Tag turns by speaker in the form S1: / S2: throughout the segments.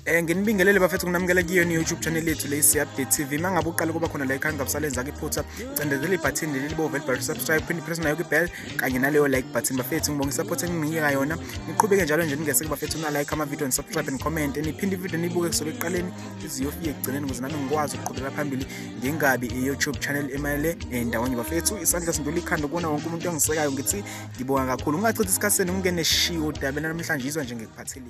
S1: Eh nginibingelele bafethu kunamukela kiyo ni YouTube channel yethu le si update TV mangabe uqala kuba khona la ikhaya ngabusalenza ke phutha cendezela ibutton leli libo vel bar subscribe phinde press nayo ke bell kanye naleyo like button bafethu ngibonga support enginika yona niqhubeke njalo nje ningese ke bafethu na like ama video and subscribe and comment niphinde video nibuke kusukela eqaleni iziyofike ekugcineni ukuze nami ngikwazi ukuqhubeka phambili ngingabi i YouTube channel emayele endawonye bafethu isandla sindula ikhanda kubona wonke umuntu ongisekayo ngithi ngibonga kakhulu ungachithi isikhathi senu ngingene shiwo dabela namhlanje izwa nje ngikuphathile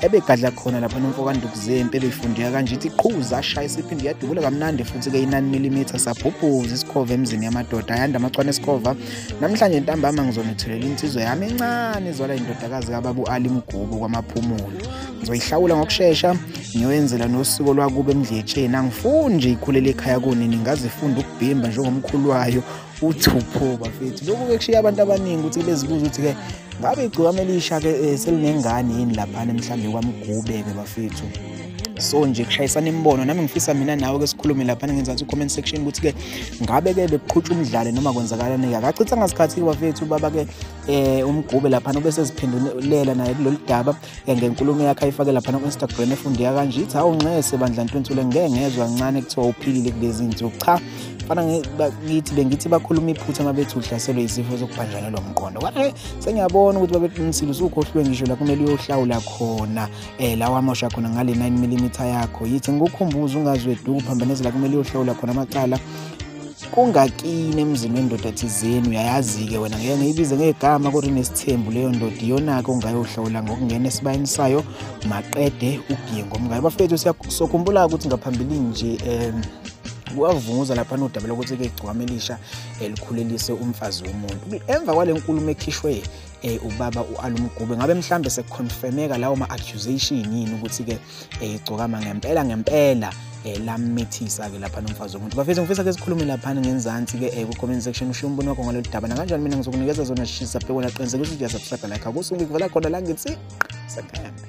S2: ebegadla khona lapha nomfo kandukuzempi ebeyifundeka kanje ithi qhuza ashaya isiphinde yadubula kamnandi futhi-ke inani milimitha sabhubhuza isikhova emzini yamadoda ayanda amachwane esikhova namhlanje ntambama ngizonithulela insizwa yami encane izwala indodakazi kababu ali mgubo kwamaphumulo ngizoyihlawula ngokushesha ngiyoyenzela nosuku olwakuba emdletsheni angifuni nje ikhulele ekhaya kunini ngazifunda ukubhimba njengomkhulu wayo uthupho bafethu lokhu ke kushiya abantu abaningi ukuthi bezibuza ukuthi ke ngabe igcikwane elisha ke eh, selinengane yini lapha mhlawumbe kwamgube ke bafethu so nje kushayisana imibono nami ngifisa mina nawe ke sikhulume lapha ngenzansi comment section ukuthi ke ngabe ke bekuqhutshwa umdlalo noma kwenzakalani ke akachitha ngasikhathi bafethu baba ke eh umgube lapha nobese ziphendulela naye kulolu daba ngenkulumo yakhe ayifake laphana ku-instagram efundeka kanje ithi hawu nxese bandla ntwentule ngeke ngezwa kancane kuthiwa uphilile kulezi nsuku cha fana ngithi bengithi bakhuluma iphutha uma bethi uhlaselwe izifo zokubhanjanelwa umqondo kwae sengiyabona ukuthi babeqinisile usukhohlwe ngisho la kumele uyohlawula khona um lawa amosha khona ngale 9 mm yakho yithi ngikukhumbuza ungazweduku phambanezela kumele uyohlawula khona amacala kungakini emzini wendoda thizeni uyayazi-ke wena ngeke ngiyibize ngegama kodwa inesithembu leyo ndoda iyona-ke ongayohlawula ngokungena esibayeni sayo maqede ugiye ngomkayo bafethu sokhumbula ukuthi ngaphambilini nje um wavunguza lapha nodaba lokuthi-ke igcwama elisha elikhulelise umfazi womuntu emva kwale nkulumo ekhishwe eh ubaba uAlumgube ngabe mhlambe sekuconfirmeka lawo ma accusation yini ukuthi ke eh igcokama ngempela ngempela eh lamithisa ke lapha nomfazi womuntu bafethu ngifisa ke sikhulume lapha ngenzansi ke eh ku comment section usho umbono wakho ngalolu daba nakanjani mina ngizokunikeza zona shisa bheke wena qiniseka ukuthi uya subscribe like akusungi kuvela khona la ngithi sakhambe